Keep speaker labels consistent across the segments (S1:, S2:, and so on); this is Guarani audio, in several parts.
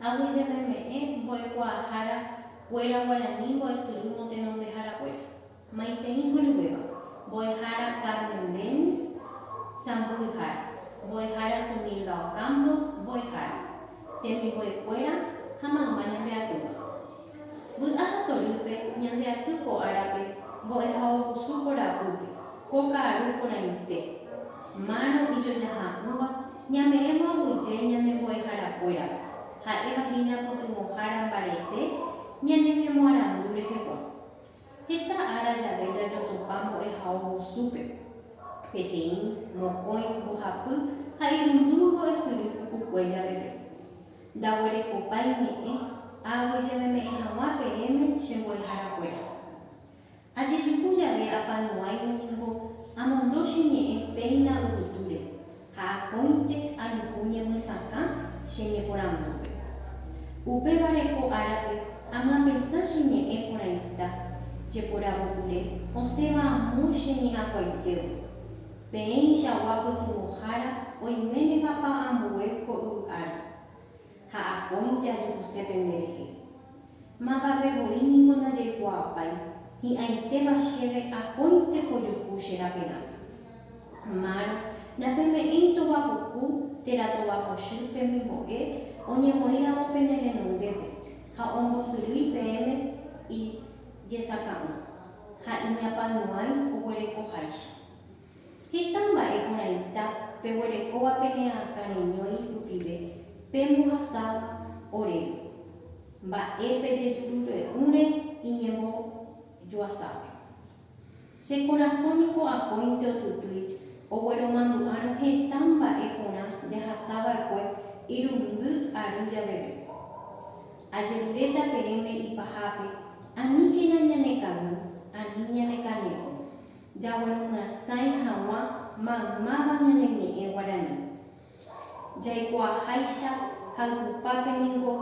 S1: Aguyjememe'ẽ mbo'ekuaahára kuéra guarani mbo'esyry motenondehára kuéra. Maitei horyvéva, mbo'ehára Carmen Dennis, sãmbyhyhára, mbo'ehára Sunilda Ocampos, mbo'ehára, temimbo'ekuéra ha mayma ñande atýva. Vy'a ha torýpe ñande aty ko árape mbo'ehaovusu korapýpe ko ka'aru porãite, márõ ijojaha'ỹva ñame'ẽvo aguyje ñane mbo'eharakuérape, ha'éva hína pytyvõhára mbarete ñaneñemoarandu rehegua. Heta ára jave jajotopa mbo'ehaovusúpe, peteĩ, mokõi, mbohapy ha irundu mbo'esyry pukukue javeve. Ndaguerekopái ñe'ẽ aaguijememe'ẽ hag̃ua peẽme che mbo'eharakuéra. Ajejuhu jave apanuáime ningo amondo che ñe'ẽ péina yvytúre ha akóinte ajuhu ñemyesakã che ñeporandúpe. Upévare ko árape amyapesã che ñe'ẽ porãita jeporavopyre osẽva amo che ñe'ãkuaitégui. Peẽichagua pytyvõhára oiménepa pa ambue ko yvy ári, ha akóinte ajuhuse pende rehe. Mávave voi niko najaikuaapái hi'ãitéva chéve akóinte pojuhu che raperã. Márõ napeme'ẽi tova puku térã tova kochy temimbo'e oñemoĩramo pene renondépe ha ombosyrýi peẽme ijesaka'ỹ ha iñapãyuãi oguerekoháicha. Heta mba'e porãita peguerekóva pene'ã karẽñói rupive pembohasáva oréve, mba'e pejejurure'ỹre iñembojoasápe. Che korasõ niko akóinte otutýi ogueromandu'árõ heta mba'e porã jahasava'ekue irundy ary javeve. Ajeruréta peẽme ipahápe aníkena ñanekavy ani ñanekane'õ. Jaguerumyasãi hag̃ua maymáva ñane ñe'ẽ guarani. Jaikuaaháicha hayhupápe ningo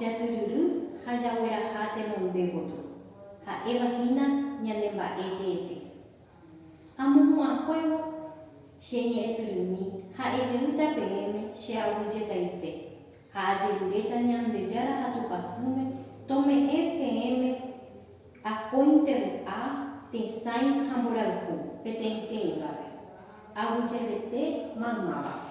S1: jatyryry ha jagueraha tenonde gotyo, ha'éva hína ñane mba'e teete. Amohu'ãkuévo che ñe'ẽsyrymi ha'e jeýta peẽme che aguyjetaite, Ha ajeruréta Ñandejára ha Tupã Sýme, tome'ẽ peẽme akóinte vy'a, tesãi ha mborayhu, peteĩteĩvape, aguyjevete maymávape.